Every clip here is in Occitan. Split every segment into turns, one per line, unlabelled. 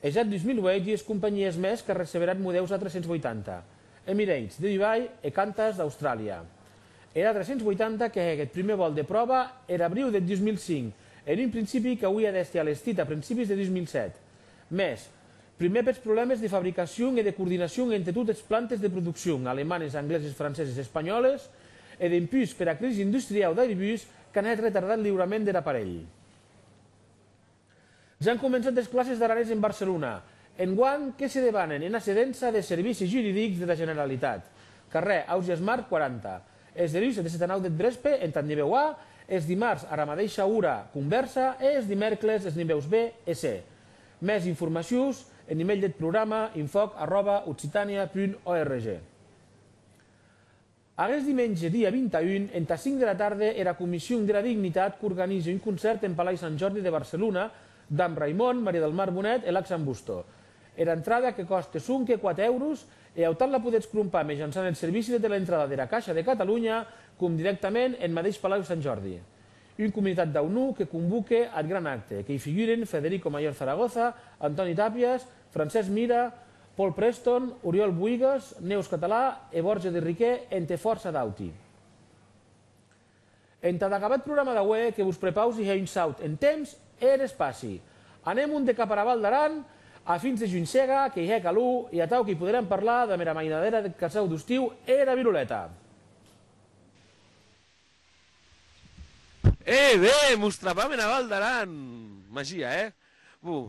Es ath 2008 dies companhies mès que receberan modèus A380, Emirates, de Dubai e Qantas d'Austràlia. Er A380 que hec eth prumèr vòl de pròva er abriu deth 2005, en un principi qu'auie d'èster alestit a principis de 2007. Mès, prumèr pes problèmes de fabricacion e de coordinacion entre tot es plantes de produccion, alemanes, angleses, franceses, espanhòles, e dempús pera crisi industriau d'Airbus qu'an hèt retardar eth liurament der aparelh. Jan començat es classes d'aranés en Barcelona. Enguan, que se debanen ena cedença des servicis juridics dera Generalitat, carrèr Ausiàs March 40. Es deluis des eta nau deth vrespe entad nivèu A, es dimars ara madeisha ora convèrsa e es dimèrcles es nivèus B e C. Mès informacions en email deth programa, infòc arròba occitània punt org. Aguest dimenge, dia 21, entà 5 dera tarde, era Comission dera Dignitat qu'organize un concèrt en Palai Sant Jordi de Barcelona damb Raimon, Maria del Mar Bonet e Laxan Busto. Era entrada, que còste sonque 4 èuros, e autant la podetz crompar mejançant eth servici de teleentrada dera Caixa de Catalunya com dirèctament en madeish Palau Sant Jordi. Un comunitat dau Nu que convoque ath gran acte, que i figuren Federico Mayor Zaragoza, Antoni Tàpias, Francesc Mira, Paul Preston, Oriol Boïgues, Neus Català e Borja de Riquer entre fòrça d'auti. Entad acabar eth programa d'aué que vos prepausi hè un saut en temps e en espaci. Anem un de cap ara Val d'Aran, a fins de Juncega, que i hè calor e atau que i poderem parlar damb era mainadera deth casau d'ustiu e era viroleta.
È ben, mos trabam ena Val d'Aran! Magia, hè? Bon,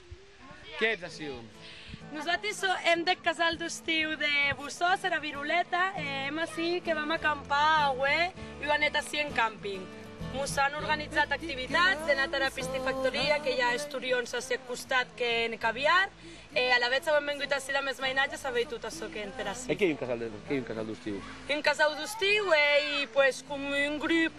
Qu'ètz aciu? Nosati sò
hèm deth casal d'Ostiu de Bossòst, era Viroleta, e hèm ací que vam acampar aué ua net ací en càmping. Mos an organitzat activitats, de nat ara pistifactoria que i a esturions ací ath costat que hèn caviar, e alavetz auem vengut ací damb es mainatges a veir tot açò que hèn per ací. E qu'ei un
casal d'ostiu? Un casau d'ostiu
ei pues com un grup